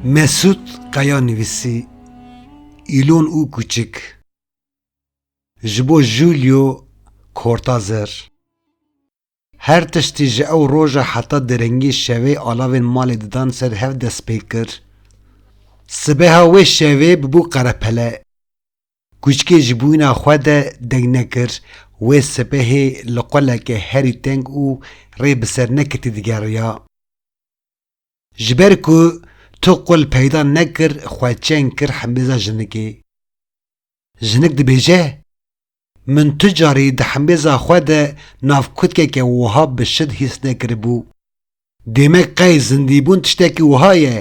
Mesûd Kaya nivîsî, Îlon û kûçik ji bo Julio Cortazer her tiştî ji ew roja heta derengî şevê alavên malê didan ser hev dest pê kir. Sibeha wê şevê bûbû qerepele. Kûçikê ji bûyîna xwe de deng nekir, wê sibehê li qoleke herî teng û rê bi ser neketî digeriya. Ji ber ku tu qol peyda nekir xwe çeng kir himêza jinikê. Jinik dibêje, Min tu carî di himêza xwe de nav kutkeke wiha bi şid hîs nekiribû. Demek qey zindîbûn tiştekî wiha ye.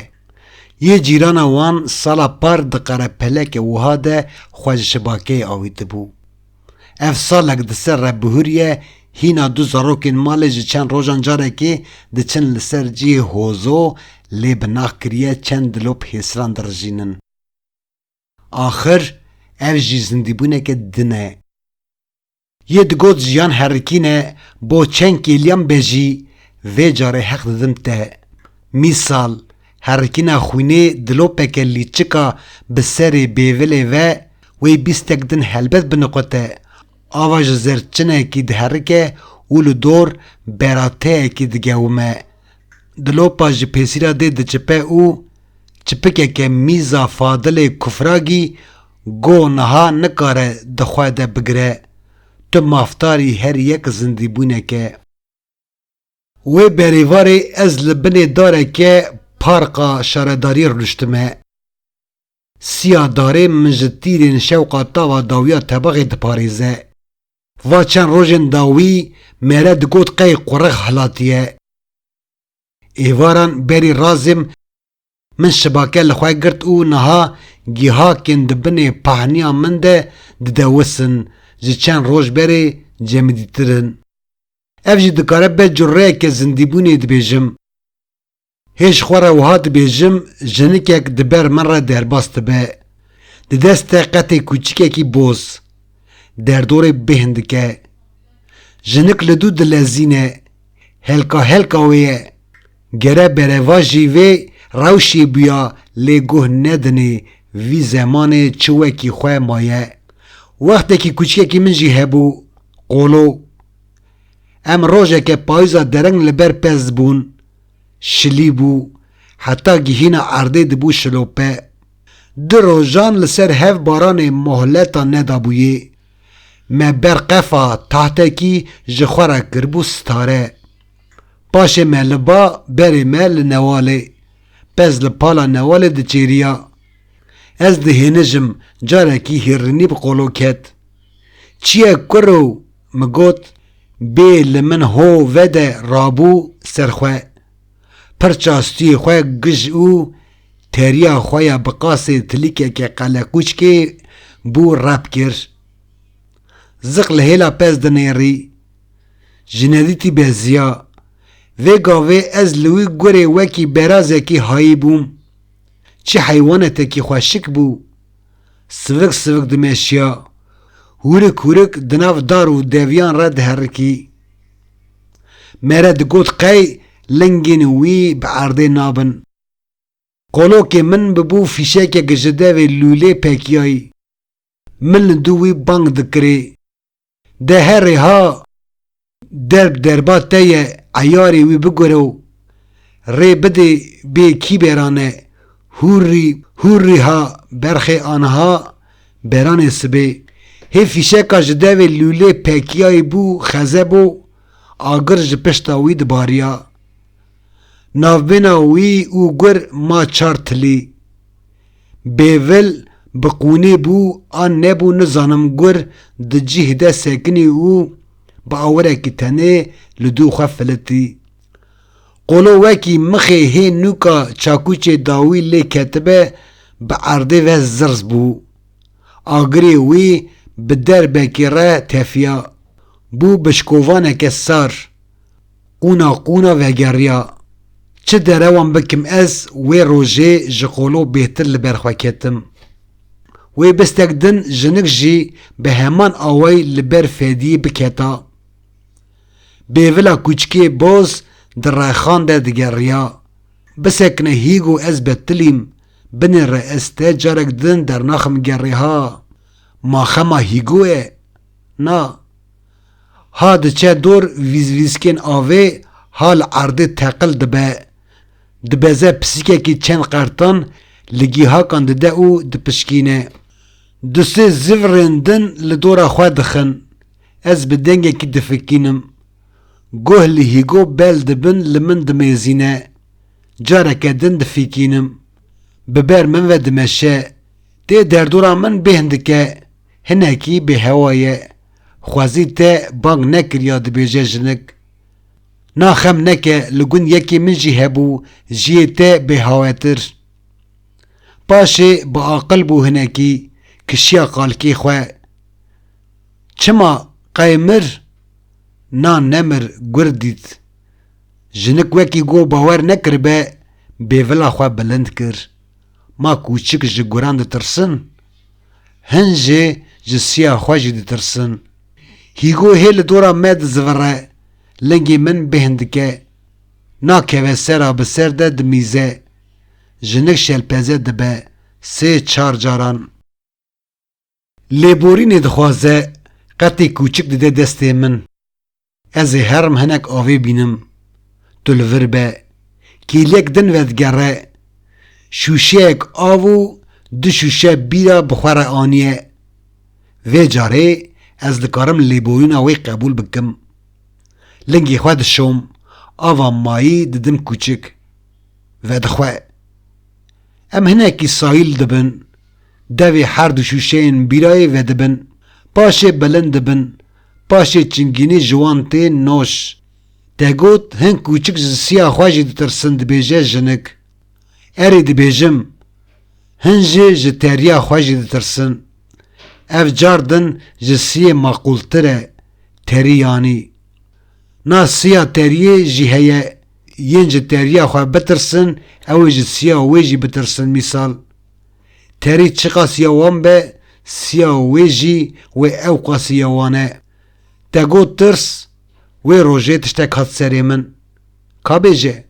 Yê cîrana wan sala par di qerepeleke wiha de xwe ji şibakeyê awîtibû. Ev salek di ser Rebihûrye hîna du zarokên malê ji çend rojan carekê diçin li ser cihê hozo lê bi nax kiriye çend dilop hêsiran dirijînin. Axir ev jî zindîbûneke din e. Yê digot jiyan herikîn e bo çend kêliyan be jî vê carê heq didim te. Mîsal, herikîna xwînê dilopeke lîçika bi serê bêvilê ve wey bîstek din helbet biniqute, ava ji zerçinekî diherike û li dor berateyekî digewime, Dilopa ji pêsîra dê diçipe û çipikeke mîza Fadilê Kufragî goh niha nikare di xwe de bigire, tu mafdarî her yek zindîbûneke. Wê berê varê ez li binê dareke parqa şaredariyê rûniştime. Siya darê min ji tîrên şewqa tava dawiya tebaxê diparêze. Va çend rojên dawî mere digot qey qurix hilatiye. Êvaran berî razim min şibake li xwe girt û niha gihakên di binê pahniya min de didewisin ji çend roj berê cemidîtir in. Ev jî dikare be cureyeke zindîbûnê dibêjim. Hê ji xwe re wiha dibêjim, jinikek di ber min re derbas dibe, di dest te qetê kûçikekî boz, derdorê bêhn dike. Jinik li dû dilezîne, helka helka wê ye, gere berevajî vê rewşê bûya lê guh nedinê vî zemanê çi wekî xwe maye. Wextekî kûçikekî min jî hebû, qolo. Em rojeke payîza dereng li ber pez bûn. şilî bû, heta gihîna erdê dibû şilope. Du rojan li ser hev baranê mohleta nedabûyê. Me ber qefa tahtekî ji xwe re kiribû stare. Paşê me li ba berê me li Newalê, pez li pala Newalê diçêriya. Ez dihênijim carekî hîrrînî bi qolo ket. Çiye kur o? min got bê li min ho vede rabû ser xwe. Pirça stûyê xwe gij û teriya xwe ya bi qasê tilîkeke qeleqûçkê bû rep kir. Ziq li hêla pez dinêrî. Jinedîtî beziya. Vê gavê ez li wî gurê wekî berazekî hayîbûm. Çi heywanetekî xweşik bû. Sivik sivik dimeşiya, hûrik hûrik di nav dar û deviyan re diherikî. Mere digot qey lingên wî bi erdê nabin. Qolokê min bibû fîşekek ji devê lûlê pekiyayî. Min li dû wî bang dikirê. De herê ha derb derba te ye eyarê wî bigure û rê bidê bê kîberan e hûrrî hûrrî ha berxê aniha beranê sibê hê fîşeka ji devê lûlê pekiyayî bû xeze bo agir ji pişta wî dibariya navbêna wî û gur ma çar tilî Bêvil bi qûnê bû a nebû nizanim gur di cih de sekinî û bi awirekî tenê li dû xwe filitî. Qolo wekî mixê hê nûka çakûçê dawî lê ketibe bi erdê ve zirz bû. Agirê wî bi derbekê re tefiya. Bû bi şikovaneke sar. Qûna qûna vegeriya çi derewan bikim ez wê rojê ji qolo bêhtir li ber xwe ketim. Wê bistek din jinik jî bi heman awayî li ber Fediyê biketa. Bêvila kûçikê boz di rexan de digeriya. Bisekine Hîgo ez betilîm, binê re ez te carek din dernaxim gerê ha. Ma xema Hîgo ye? Na. ha diçe dor vîzvîzkên avê ha li erdê teqil dibe, dibeze pisîkekî çend qertan li gîhakan dide û dipişkîne. Du sê zivrên din li dora xwe dixin. Ez bi dengekî difikînim. Guh li hîgo bel dibin li min dimêzîne. Careke din difikînim. Bi ber min ve dimeşe. Tê derdora min bêhn dike. Hinekî bêhewa ye. Xwezî te bang nekiriya dibêje jinik. Na xem neke li gund yekê min jî hebû jiyê te bêhawetir. Paşê bi aqil bû hinekî kişiya qalkê xwe. Çima qey mir? Na nemir gur dît. Jinik wekî got bawer nekiribe bêvila xwe bilind kir. Ma kûçik ji guran ditirsin? Hin jê ji siya xwe jî ditirsin. Hîgo hê li dora me dizivire, lingê min bêhn dike. Nakeve ser a bi ser de dimîze. Jinik şelpeze dibe sê çar caran. Lêborînê dixwaze, qetê kûçik dide destê min. Ez ê herm hinek avê bînim. Tu li vir be. Kêliyek din vedigere. Şûşeyek av û du şûşe bîra bi xwe re aniye. Vê carê ez dikarim lêboyûna wê qebûl bikim. Lingê xwe dişom, ava mayî didim kûçik. Vedixwe. Em hinekî sahîl dibin. Devê her du şûşeyên bîrayê vedibin, paşê bilind dibin, paşê çingînî ji wan tê noj. Degot hin kûçik ji siya xwe jî ditirsin dibêje jinik. Erê dibêjim. Hin jî ji teriya xwe jî ditirsin. Ev car din ji siyê maqûltir e, terî yanî. Na siya teriyê jî heye, yên ji teriya xwe bitirsin ew ê ji siya wê jî bitirsin mîsal. Terî çiqas ya wan be, siya wê jî wê ewqasî ya wan e. Te got tirs, wê rojê tiştek hat serê min. Ka bêje,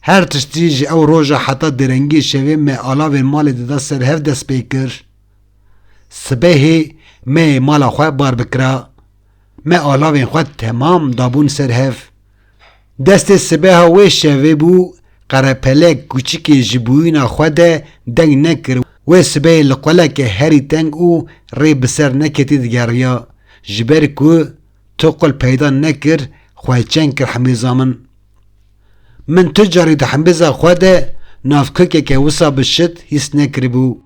her tiştî ji ew roja heta derengiyê şevê me alavên malê dida ser hev dest pê kir. Sibehê me yê mala xwe bar bikira. Me alavên xwe temam dabûn ser hev. Destê sibeha wê şevê bû, Qerepelek kûçikê ji bûyîna xwe de deng nekir, wê sibehê li quleke herî teng û rê bi ser neketî digeriya, ji ber ku tu qul peyda nekir, xwe çend kir himêza min. Min tu carî di himêza xwe de navkokeke wisa bi şit hîs nekiribû.